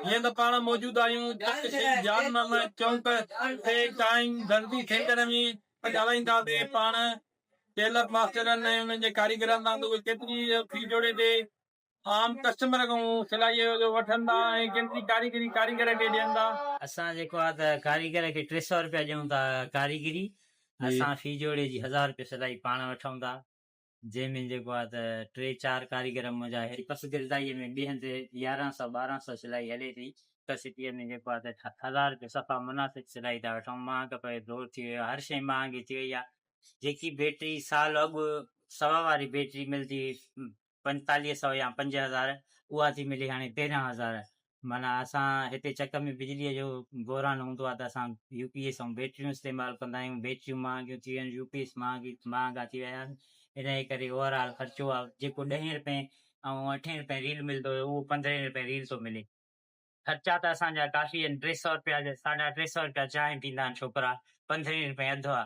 جيئن ته پاڻ موجود آهيون ته اسين جان محمد چونڪ تي قائم درزي سينٽر ۾ ڳالهائينداسين پاڻ ٽيلر ماسترن ۽ انهن جي ڪاريگرن سان ته اهي ڪيتري في جوڙي تي عام ڪسٽمر کان سلائيء جو وٺن ٿا ۽ ڪيتري ڪاريگري ڪاريگر کي ڏين ٿا. اسان جيڪو آهي ته ڪاريگر کي ٽي سئو رپيا ڏيون ٿا ڪاريگري اسان في جوڙي جي هزار رپيو سلائي پاڻ وٺون ٿا. جنهن ۾ جيڪو آهي ته ٽي چار ڪاريگر منهنجا هي پس گردائيء ۾ بيهن تي يارهن سئو ٻارهن سئو سلائي هلي ٿي هڪ سٽيء ۾ جيڪو آهي ته هزار رپيو صفا مناسب سلائي ٿا وٺون مهانگ پيو دور ٿي ويو هر شيء مهانگي ٿي وئي آهي جيڪي بيٽري سال اڳ سوا واري بيٽري ملدي هئي پنجتاليهه سئو يا پنج هزار اها ٿي ملي هاڻي تيرهن هزار معنيٰ اسان هتي چڪ ۾ بجليء جو بحران هوندو آهي ته اسان يو پي ايس ۽ بيٽريون استعمال ڪندا آهيون، بيٽريون مهانگيون ٿي ويون آهن، يو پي ايس مهانگي مهانگا ٿي ويا آهن، انهيء ڪري اوور آل خرچو آهي، جيڪو ڏهين رپين ۽ اٺين رپين ريل ملندو هيو، اهو پندرهين رپين ريل ٿو ملي. خرچا ته اسان جا ڪافي آهن، ٽي سؤ رپيا جا ساڍا ٽي سؤ رپيا چانهه پيئندا آهن ڇوڪرا، پندرهين رپين اڌ آهي،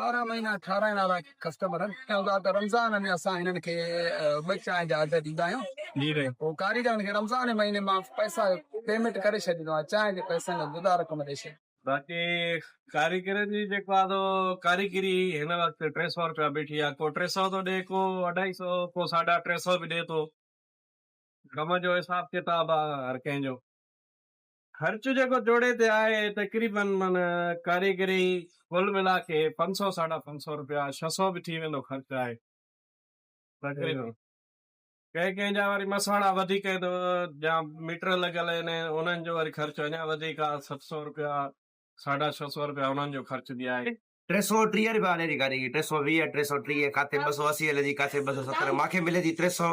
ٻارهن مهينا کارائڻ وارا ڪسٽمر آهن ۽ رمضان ۾ اسان هنن کي ٻه چانهن جا آرڊر ڏيندا آهيون ۽ ڪاريگرن کي رمضان جي مهيني مان پئسا پيمينٽ ڪري ڇڏيندو آهيان چانهن جي پئسن لاء جدا رقم ڏئي ڇڏيندو آهيان باقي ڪاريگرن جي جيڪو آهي سو ڪاريگري هن وقت ٽي سئو رپيا بيٺي آهي ڪو ٽي سئو ٿو ڏي ڪو اڍائي سئو ڪو ساڍا ٽي سئو به ڏي ٿو ڪم جو حساب ڪتاب آهي هر ڪنهن جو. خرچ جيڪو جوڙي تي آهي تقريباً معنيٰ ڪاريگري ڪل ملا ڪي پنج سؤ ساڍا پنج سؤ روپيا ڇهه سؤ به ٿي ويندو خرچ آهي تقريباً ڪنهن ڪنهن جا وري مسواڙا وڌيڪ آهن جا ميٽر لڳل آهن انهن جو وري خرچ اڃا وڌيڪ آهي ست سؤ روپيا ساڍا ڇهه سؤ روپيا انهن جو خرچ به آهي. ٽي سؤ ٽيهه روپيا هلي ٿي ڪاريگري ٽي سؤ ويهه ٽي سؤ ٽيهه ڪاٿي ٻه سؤ اسي هلي ٿي ڪاٿي ٻه سؤ ستر مانکي ملي ٿي ٽي سؤ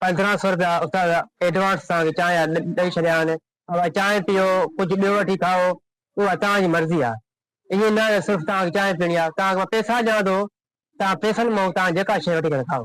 پندرهن سؤ رپيا استاد ايڊوانس سان وچان يا ڏئي ڇڏيا آهن، اوهان چانهه پيئو، ڪجهه ٻيو وٺي کائو، اها توهان جي مرضي آهي. ائين نه ته صرف توهان کي چانهه پيئڻي آهي، توهان کي مان پئسا ڏيان ٿو، توهان پئسن مان توهان جيڪا شيء وٺي ڪري کائو.